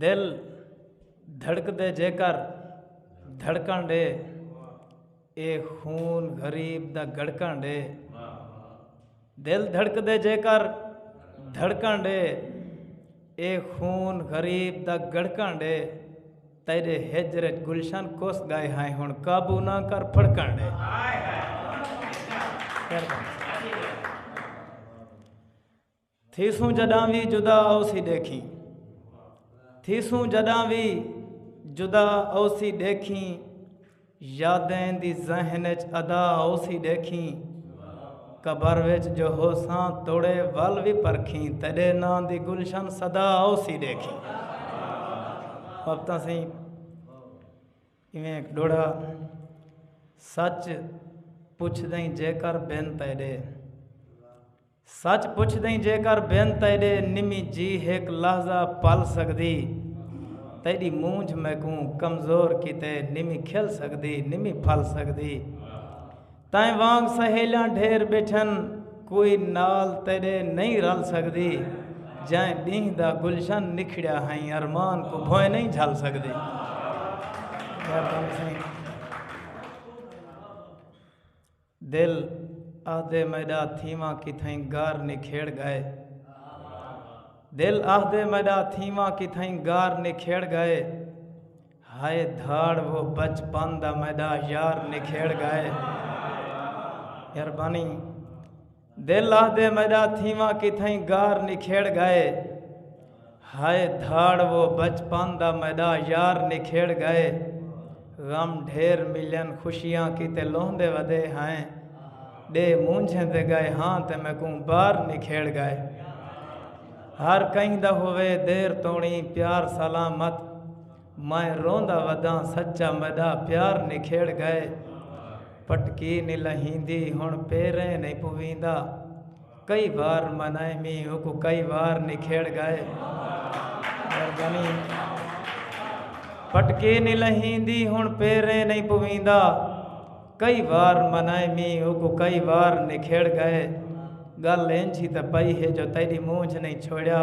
دل دھڑکدے جیکر دھڑکن ڈے اے خون غریب دا گڑکن ڈے دل دھڑکدے جیکر دھڑکن ڈے اے خون غریب دا گڑکن ڈے تیرے ہجر گلشن کوس گائے ہیں ہن قابو نہ کر پھڑکن ڈے تھیسوں جڈاں وی جدا اوسی ڈیکھیں تھیسوں جڈاں وی جدا اوسی ڈیکھیں یادیں دی ذہن اچ ادا اوسی ڈیکھیں قبر وچ جو ہوساں توڑے ول وی پرکھیں تیڈے ناں دی گلشن صدا اوسی ڈیکھیں وقتاں سی ایویں ایک ڈوڑا سچ پوچھ دیں جے کر بن تیڈے سچ پچھدئیں جیکر بن تیڈے نمی جی ہک لحظہ پل سگدی تیڈی مونجھ میکوں کمزور کیتے نمی کھل سگدی نمی پھل سگدی تائیں وانگ سہیلیاں ڈھیر بیٹھن کوئی نال تیڈے نہیں رل سگدی جائیں ڈینہ دا گلشن نکھڑیا ہائیں ارمان کو بھوئیں نہیں جھل سگدی دل آہدے میݙا تھیواں کتھائیں گار نکھیڑ ڳئے دل آہدے میݙا تھیواں کتھائیں گار نکھیڑ ڳئے ہائے دھاڑ وہ بچپن دا میݙا یار نکھیڑ ڳئے مہربانی دل آہدے میڈا تھیواں کتھائیں گار نکھیڑ گئے ہائے دھاڑ وہ بچپن دا میڈا یار نکھیڑ گئے غم ڈھیر ملن خوشیاں کیتے لوہندے ودے ہائیں ڈے مونجھیں دے گئے ہاں تے میکوں بار نکھیڑ گئے ہر کہیں دا ہوئے دیر توڑیں پیار سلامت میں روندا وداں سچا میڈا پیار نکھیڑ گئے پٹکی نی لہیندی ہن پیریں نی پویندا کئی وار منائے می اوکو کئی وار نکھیڑ گئے مہربانی پٹکی نی لہیندی ہن پیریں نی پویندا کئی وار منائے می اوکو کئی وار نکھیڑ گئے گل اینجھی تے پئی ہے جو تیری مونجھ نہیں چھوڑیا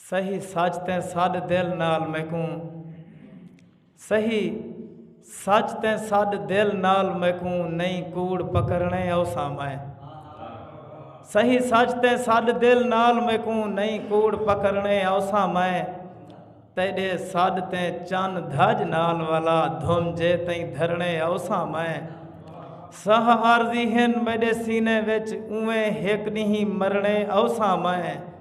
سہی سچ تیں سڈ دل نال میکوں سہی سچ تیں سڈ دل نال میکوں نہیں کوڑ پکڑنے اوساں میں سہی سچ تیں سڈ دل نال میکوں نہیں کوڑ پکڑنے اوساں میں تیڈے سڈ تیں چن دھج نال والا دھم جے تیں دھرنے اوساں میں سہ عارضی ہن میڈے سینے وچ اویں ہک نہیں مرنے اوساں میں